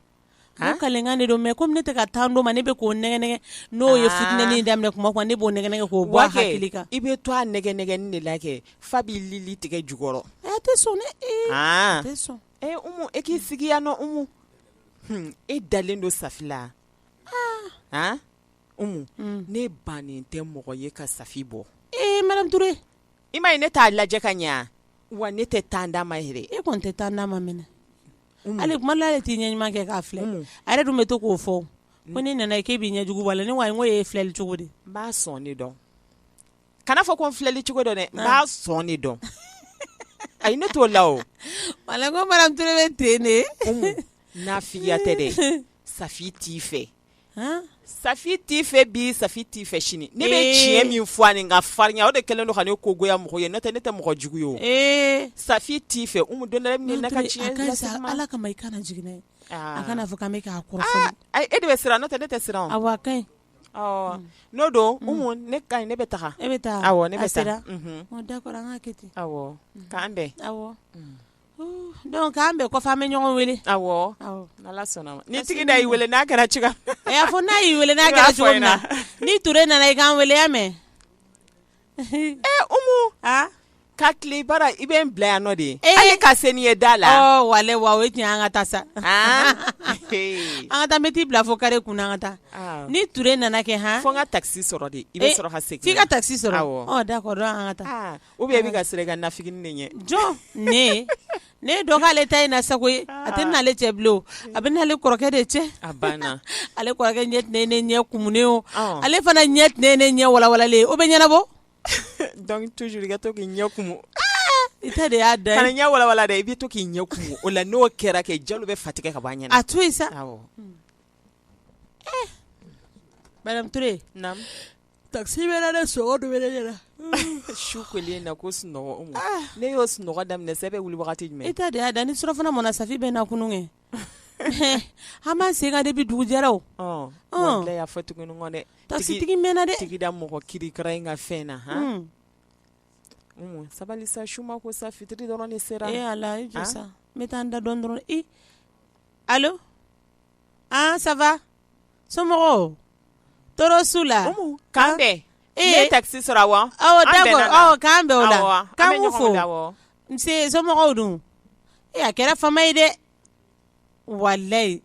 a kakan de don mais comme ne tɛ ka temps d'o ma ne bɛ k'o nɛgɛn n'o ye fitinɛ daminɛ kuma kan ne b'o nɛgɛn k'o bɔ a kan i bɛ to a nɛgɛnnɛgɛn de la kɛ f'a b'i lili tigɛ jukɔrɔ a tɛ sɔn dɛ a tɛ sɔn Ee Umu e k'i sigi yan nɔ Umu, hun, e dalen don Safi la, aa, han, Umu, ne bannen tɛ mɔgɔ ye ka Safi bɔ, ee madame Ture, i m'a ye ne t'a lajɛ ka ɲɛ wa, wa ne tɛ temps d'a ma yɛrɛ, e kɔni tɛ temps d'a ma mɛnɛ, Umu, hali kuma la hali e t'i ɲɛ ɲuman kɛ k'a filɛ, Umu, a yɛrɛ dun bɛ to k'o fɔ, ko n'i nana k'e b'i ɲɛjugu bɔ a la, ne ko ayi e ye filɛli cogo di, n b'a sɔn de dɔn kana fɔ ko n filɛli cogo don dɛ n b'a sɔn de dɔn ayi ne t'o la o walayi ko madame Ture bɛ ten de Umu nafigiya tɛ dɛ Safi t'i fɛ han Safi t'i fɛ bi Safi t'i fɛ sini ne bɛ Ee. tiɲɛ min fɔ ani n ka farinya o de kɛlen don ka ne ko goya mɔgɔ ye n'o tɛ ne tɛ mɔgɔ jugu ye o ee Safi t'i fɛ Umu don dɔ la e bɛ ne n'a ka Madame Ture, a tiɲɛ ka ɲi sa lasigi n ma. ala kama i kana jigin n'a ye a Aa. kana fɔ k'an bɛ k'a kɔrɔfɔ Aa, ayi e de bɛ siran n'o tɛ ne tɛ siran o. awa a ka ɲi n'o don Umu ne ka ne bɛ taa e bɛ taa awɔ ne bɛ sera d'accord an k'a kɛ ten awɔ k'an bɛn awɔ donc k'an bɛn kɔfɛ an bɛ ɲɔgɔn wele awɔ n'ala sɔnna a ma ni Tigida y'i weele n'a kɛra cogoya a y'a fɔ n'a y'i weele n'a kɛra cogo min na ni Ture nana i k'an weele i y'a mɛn Umu ka tile bara i bɛ n bila yan nɔ de ye ka se ni n ye da la walayi o ye tiɲɛ an ka taa sa an ka taa n bɛ t'i bila fo kare kun na an ka taa ni Ture nana kɛ h fo n ka taxi sɔrɔ de i bɛ sɔrɔ ka segin f'i ka taxi sɔrɔ d'accord an ka taa ou bien i bɛ ka siran i ka nafigi ɲɛ jɔn ne Ne dɔ k'ale ta in na sago ye a tɛ n'ale cɛ bilen a bɛ n'ale kɔrɔkɛ de cɛ ale kɔrɔkɛ ɲɛ tɛ ne ɲɛ kumunen o ale fana ɲɛ tɛ ne ɲɛ walawalalen o bɛ ɲɛnabɔ donc toujours i ka to k'i ɲɛ kumu i ta de y'a da kana ɲɛ walawala dɛ i bɛ to k'i ɲɛ kumu o la n'o kɛra kɛ Jalo bɛ fa tigɛ ka bɔ a ɲɛ na a to yen sa taxi bɛ na sunɔgɔ de bɛ ne ɲɛ na su kolen na ko sunɔgɔ n'e y'o sunɔgɔ daminɛ sa e bɛ wuli wagati jumɛn e ta de y'a da ni surɔfana mɔna Safi bɛ na i kunun kɛ an b'an sen kan depuis dugu jɛra o y'a fɔ tuguni dɛ taxi tigi mɛnna dɛ Tigida mɔgɔ kirikara in ka fɛn na h sabali sa su ma ko sa fitiri dɔrɔn de sera ee ala n bɛ taa n da dɔɔnin dɔrɔn allo ça va somɔgɔw tɔɔrɔ s'u la k'an bɛn ne ye taxi sɔrɔ awɔ k'an bɛn o la k'an b'u fo nse somɔgɔw dun e a kɛra fama ye dɛ walayi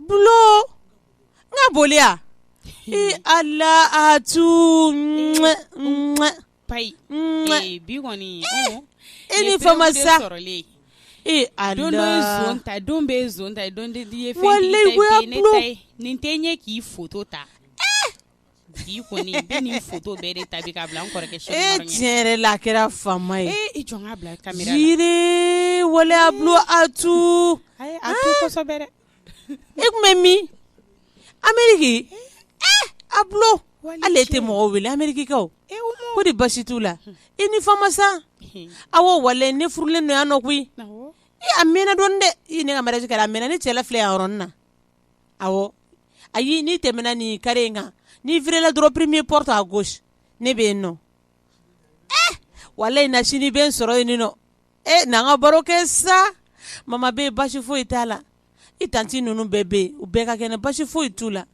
bulon n ka boli ee ala a tun pa bi kɔni e ni fama sa ee a don ta don bɛɛ zon ta ye don kelen ye fɛntigi ta ye nin tɛ ɲɛ k'i foto ta Bi kɔni i bɛ nin photo bɛɛ de ta bi k'a bila n kɔrɔkɛ chaine kɔrɔ ɲɛ ee tiɲɛ yɛrɛ la a kɛra fama ye ee i jɔ n k'a bila caméra la Jire walayi Abulo Atuu ayi a to kosɛbɛ dɛ i tun bɛ min Ameriki ee Abulo hali e tɛ mɔgɔ wele amerikikaw ee u ma ko di basi t'u la i ni fama sa hun awɔ walayi ne furulen don yan nɔ koyi awɔ ee a mɛnna dɔɔnin dɛ ii ne ka mariage kɛra a mɛnna ne cɛ la filɛ yan yɔrɔnin na awɔ ayi n'i tɛmɛna nin carré in kan n'i virela dɔrɔn premier porte à gauche ne bɛ yen nɔ walayi na sini i bɛ n sɔrɔ yen nɔ e n'an ka baro kɛ sa mama bɛ yen basi foyi t'a la i tanti ninnu bɛɛ bɛ yen u bɛɛ ka kɛnɛ basi foyi t'u la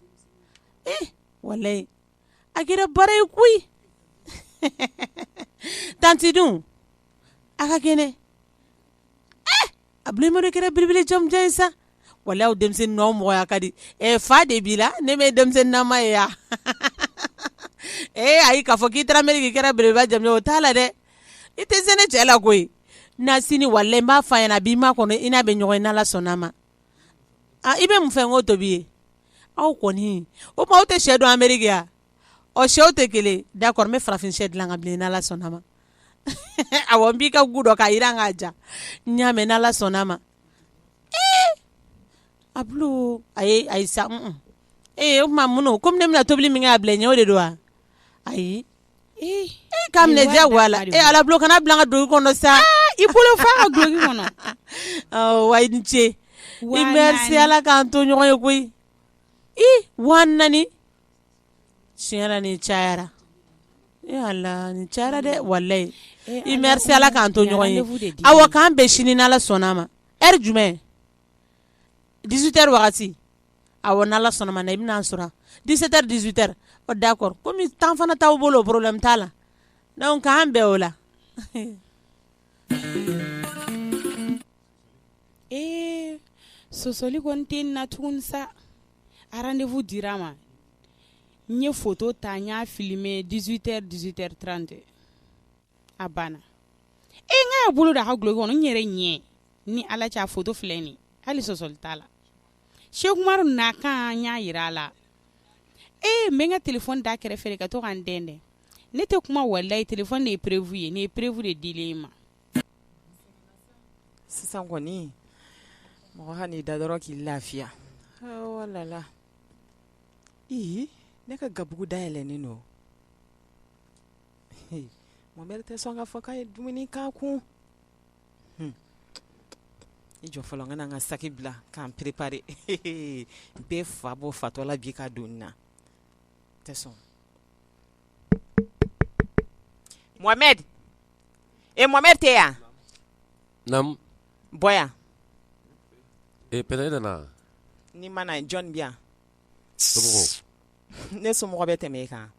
e walayi a kɛra baara ye koyi tanti dun a ka kɛnɛ Abulo mari kɛra belebele jamanjan ye sa walayi denmisɛnnin n'aw mɔgɔya ka di ɛ fa de b'i la ne bɛ denmisɛnnin nama ye yan ee ayi k'a fɔ k'i taara Ameriki k'i kɛra belebele jamanjan o t'a la dɛ i tɛ se ne cɛ la koyi na sini walayi n b'a f'a ɲɛna a b'i ma kɔnɔ i n'a bɛ ɲɔgɔn ye n'ala sɔnna ma aa i bɛ mun fɛ n k'o tobi i ye aw kɔni o tuma aw tɛ sɛ dun Ameriki yan ɔ sɛw tɛ kelen d'accord n bɛ farafin sɛ dilan ka bilen n'ala sɔnna ma awɔ n b'i ka gu dɔ k'a jiran n k'a ja n y'a mɛn n'ala sɔnna a ma Abulo ayi sa ee o tuma mun nɔ kɔmi ne bɛna tobili min kɛ a bila ɲɛ o de don wa ayi ee k'a minɛ diyagoya la ee ala Abulo kan'a bila n ka duloki kɔnɔ sa i bolo fa ka duloki kɔnɔ wa i ni ce i merci ala k'an to ɲɔgɔn ye koyi i waa naani tiɲɛ la nin cayara ee Ala nin cayara dɛ walahi i merci Ala k'an to ɲɔgɔn ye rendez-vous de dira awa k'an bɛn sini n'Ala sɔnna a ma heure jumɛn 18 heures wagati awɔ n'Ala sɔnna a ma na i bɛna an sɔrɔ yan 17 heures 18 heures ɔ d'accord comme temps fana t'aw bolo problème t'a la donc k'an bɛn o la ee sɔsɔli kɔni tɛ nin na tuguni sa rendez-vous dira ma n ye photo ta n y'a filmer 18 heures 18 heures 30 a banna e n k'a bolo da a ka duloki kɔnɔ n yɛrɛ ɲɛ ni ala cɛ a photo filɛ nin ye hali sɔsɔli t'a la Seku Umaru na kan n y'a yira a la e n bɛ n ka téléphone da kɛrɛfɛ de ka to ka n dɛndɛn ne tɛ kuma walayi téléphone de ye preuve ye nin ye preuve de dilen y'i ma Sisan kɔni mɔgɔ ka n'i da dɔrɔn k'i lafiya walala ne ka gabugu da yɛlɛnnen don Mohamɛdi tɛ sɔn k'a fɔ k'a ye dumuni k'a kun i jɔ fɔlɔ n ka na n ka saki bila ka n préparer n bɛ fa bɔ fatɔ la bi ka don na tɛ sɔn e Mohamɛdi tɛ yan naamu bɔ yan e Pɛnda nana n'i ma na jɔn bi yan ne somɔgɔ bɛ tɛmɛ e kan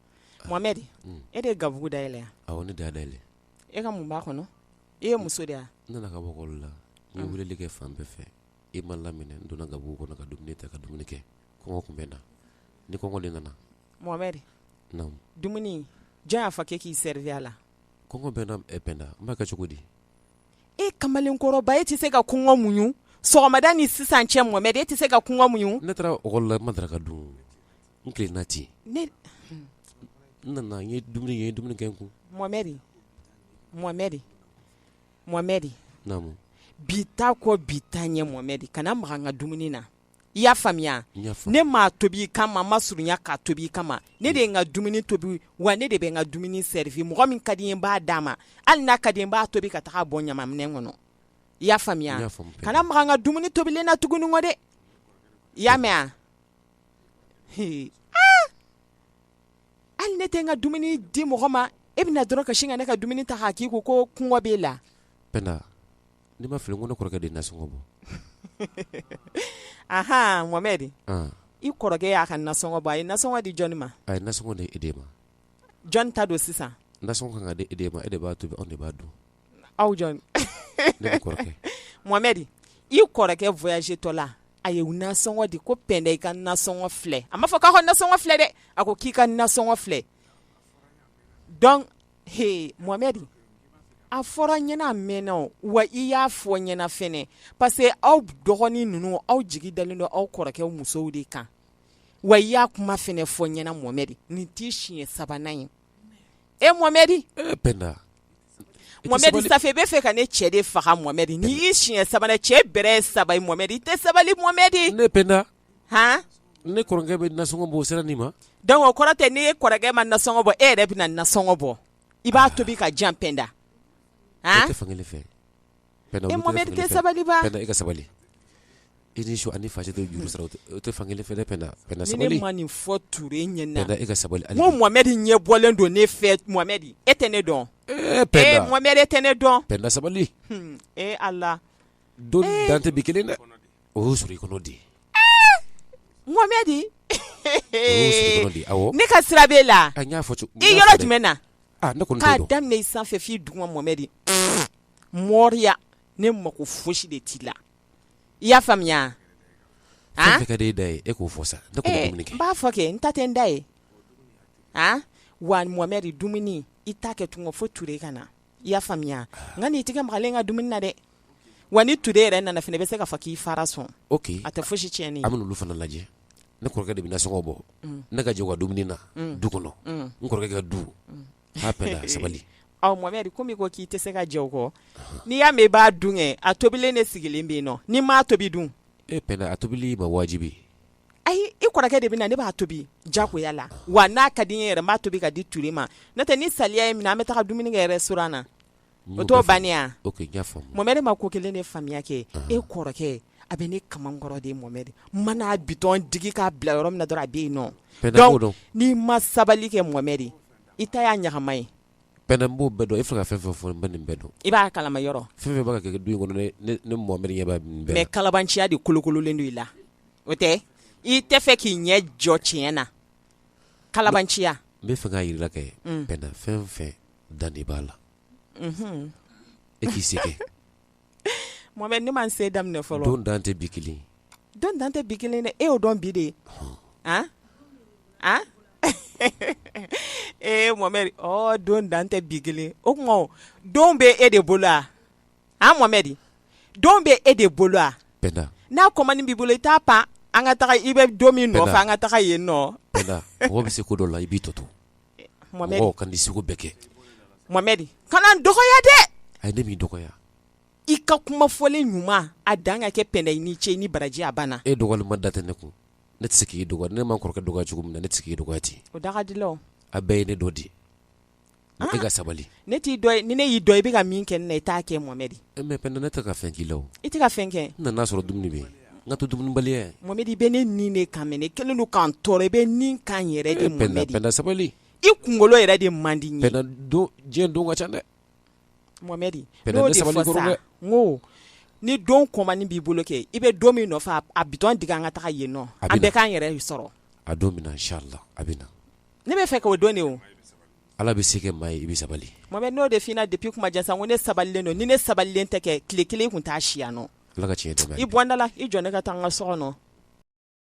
Mohamɛdi mm. e de ye gabugu da yɛlɛ wa awɔ ne de y'a da yɛlɛ e ka mun b'a kɔnɔ e ye muso de ye wa ne nana ka bɔ école la n ye weleli kɛ fan bɛɛ fɛ e ma n laminɛ n donna gabugu kɔnɔ ka dumuni ta ka dumuni kɛ kɔngɔ tun bɛ n na ni kɔngɔ de nana Mohamɛdi, naamu, dumuni jɔn y'a fɔ k'e k'i servir a la? kɔngɔ bɛ n na ɛ Pɛnda, n b'a kɛ cogo di? e kamalenkɔrɔba e tɛ se ka kɔngɔ muɲu sɔgɔmada ni sisan cɛ Mohamɛdi e tɛ se ka kɔngɔ muɲu? Ne taara école la n ma daraka dun o, n tilenna ten, ne, n nana n ye dumuni kɛ, n ye dumuni kɛ n kun, Mohamɛdi, Mohamɛdi, Mohamɛdi, naamu, bi ta kɔ bi ta ɲɛ Mohamɛdi kana maga n ka dumuni na i y'a faamuya ne m'a tobi i kama n ma surunya k'a tobi i kama ne de ye n ka dumuni tobi wa ne de bɛ n ka dumuni servir mɔgɔ min ka di n ye n b'a d'a ma hali n'a ka di n b'a tobi ka taa bɔn ɲamanminɛn kɔnɔ i y'a faamuya kana maga n ka dumuni tobilen na tuguni kɔ dɛ i y'a mɛn wa hali ne tɛ n ka dumuni di mɔgɔ ma e bɛ na dɔrɔn ka sin ka ne ka dumuni ta k'a k'i kun ko kɔngɔ b'e la N'i ma fili n ko ne kɔrɔkɛ de ye nasɔngɔ bɔ aɔn Mohamɛdi i kɔrɔkɛ y'a ka nasɔngɔ bɔ a ye nasɔngɔ di jɔnni ma a ye nasɔngɔ di e de ma jɔn ta don sisan nasɔngɔ ka kan ka di e de ma e de b'a tobi anw de b'a dun aw jɔn ne ni kɔrɔkɛ Mohamɛdi i kɔrɔkɛ voyagétɔ la a ye nasɔngɔ di ko Pɛnda i ka nasɔngɔ filɛ a m'a fɔ k'a ka nasɔngɔ filɛ dɛ a ko k'i ka nasɔngɔ filɛ dɔnc he Mohamɛdi a fɔra n ɲɛna a mɛɛnna o wa i y'a fɔ n ɲɛna fɛnɛ parce que aw dɔgɔnin ninnu aw jigi dalen don aw kɔrɔkɛw musow de kan wa i y'a kuma fɛnɛ fɔ n ɲɛna Mohamɛdi nin t'i siɲɛ sabanan ye e Mohamɛdi ee Pɛnda Mohamɛdi ça fait i b'a fɛ ka ne cɛ de faga Mohamɛdi nin y'i siɲɛ sabanan ye cɛ bɛrɛ ye saba ye Mohamɛdi i tɛ sabali Mohamɛdi ne Pɛnda h ne kɔrɔkɛ bɛ nasɔngɔ bɔ o sera nin ma donc o kɔrɔ tɛ n'e kɔrɔkɛ ma nasɔngɔ bɔ e yɛrɛ bɛ na nasɔngɔ bɔ i b'a tobi ka jan Pɛnda fankelen fɛ e sabali i ka sabali i ni su ani fa tɛ juru sara o tɛ fankelen fɛ ni ne ma nin fɔ Ture ɲɛna e ka sabali Mohamɛdi ɲɛ bɔlen don ne fɛ Mohamɛdi e tɛ ne dɔn Mohamɛdi e tɛ ne dɔn sabali e Ala don dan tɛ bi kelen dɛ O y'o sɔrɔ i kɔnɔ di Mohamɛdi ne ka sira b'e la i yɔrɔ jumɛn na k'a daminɛ i sanfɛ f'i duguma Mohamɛdi mɔriya ne mako fosi de t'i la i y'a faamuya da e k'o fɔ sa n b'a fɔ kɛ n ta tɛ n da ye wa Mohamɛdi dumuni i t'a kɛ tun fo Ture ka na i y'a faamuya nka n'i tɛgɛ magalen ka dumuni na dɛ wa ni Ture yɛrɛ nana fana i bɛ se k'a fɔ k'i fara sɔn ok a tɛ fosi tiɲɛ an bɛ n'olu fana lajɛ ne kɔrɔkɛ de bɛ nasɔngɔ bɔ ne ka jɛ ka dumuni na du kɔnɔ n kɔrɔkɛ ka du a Pɛnda sabali Mohamɛdi komi ko k'i tɛ se ka jɛ kɔ n'i y'a mɛn i b'a dun kɛ a tobilen de sigilen bɛ yen nɔ ni n m'a tobi dun Pɛnda a tobili ma wajibi ayi i kɔrɔkɛ de bɛ na ne b'a tobi jagoya la wa n'a ka di n ye yɛrɛ n b'a tobi k'a di Ture ma n'o tɛ ni saliya ye n minɛ an bɛ taga dumuni kɛ restaurant na o t'o bannen ye wa, ok n y'a faamu, Mohamɛdi ma ko kelen de faamuya kɛ e kɔrɔkɛ a bɛ ne kamankɔrɔ de Mohamɛdi n mana bitɔn digi k'a bila yɔrɔ min na dɔrɔn a bɛ yen nɔ, donc n'i ma sabali kɛ Mohamɛdi i ta y'a ɲagama ye Pɛnda n b'o bɛɛ dɔn e filɛ ka fɛn fɛn fɔ n bɛ nin bɛɛ dɔn i b'a kalama yɔrɔ fɛn fɛn b'a ka kɛ du kɔnɔ ne Mohamɛdi ɲɛ b'a nin bɛɛ la mais kalabanciya de kolokololen don i la o tɛ i tɛ fɛ k'i ɲɛ jɔ tiɲɛ na kalabanciya n bɛ fɛ k'a jira kɛ Pɛnda fɛn fɛn dan de b'a la e k'i se kɛ Mohamɛdi ne ma n se daminɛ fɔlɔ, don dan tɛ bi kelen ye, don dan tɛ bi kelen ye dɛ, e y'o dɔn bi de, an, an, ee Mohamɛdi ɔɔ don dan tɛ bi kelen ye, o tuma o don bɛ e de bolo wa, an Mohamɛdi, don bɛ e de bolo wa, Pɛnda, n'a kɔmani b'i bolo i t'a pan an ka taga i bɛ don min nɔfɛ an ka taga yen nɔ, Pɛnda, mɔgɔ bɛ se ko dɔ la i b'i tɔ to dɔgɔya dɛ a ne m'i dɔgɔya i ka kuma fɔlen ɲuman a dan ka kɛ Pɛnda i ni ce ni baraji a banna e dɔgɔyali ma da tɛ ne kun ne tɛ se k'i dɔgɔya ne ma n kɔrɔkɛ dɔgɔya cogo min na ne tɛ se k'i dɔgɔya ten o da a bɛɛ ye ne dɔ di e ka sabali ne t'i dɔn ni ne y'i dɔn i bɛ ka min kɛ n na i t'a kɛ Mohamɛdi e mais Pɛnda ne tɛ ka fɛn k'i la i tɛ ka fɛn kɛ n na n nan'a sɔrɔ dumuni bɛ yen n ka to dumunibaliya Mohamɛdi i bɛ ne nin de kan mɛ ne kelen don ka n tɔɔrɔ i bɛ nin kan yɛrɛ de Pɛnda sabali i kunkolo yɛrɛ de man di n ye Pɛnda diɲɛ don ka ca dɛ Mohamɛdi n ko ni don kɔmandi b'i bolo kɛ i bɛ don min nɔfɛ a bitɔn digi an ka taa yen nɔ an bɛɛ k'an yɛrɛ sɔrɔ a don na inchallah a bɛ na ne b'a fɛ k'o dɔn de o Ala bɛ se kɛ maa ye i bɛ sabali Mohamɛdi n'o de f'i ɲɛna depuis kuma jan sa n ko ne sabalilen don ni ne sabalilen tɛ kɛ tile kelen i kun t'a si yan nɔ Ala ka tiɲɛ d'an ma i bɔ n da la i jɔ ne ka taa n ka so kɔnɔ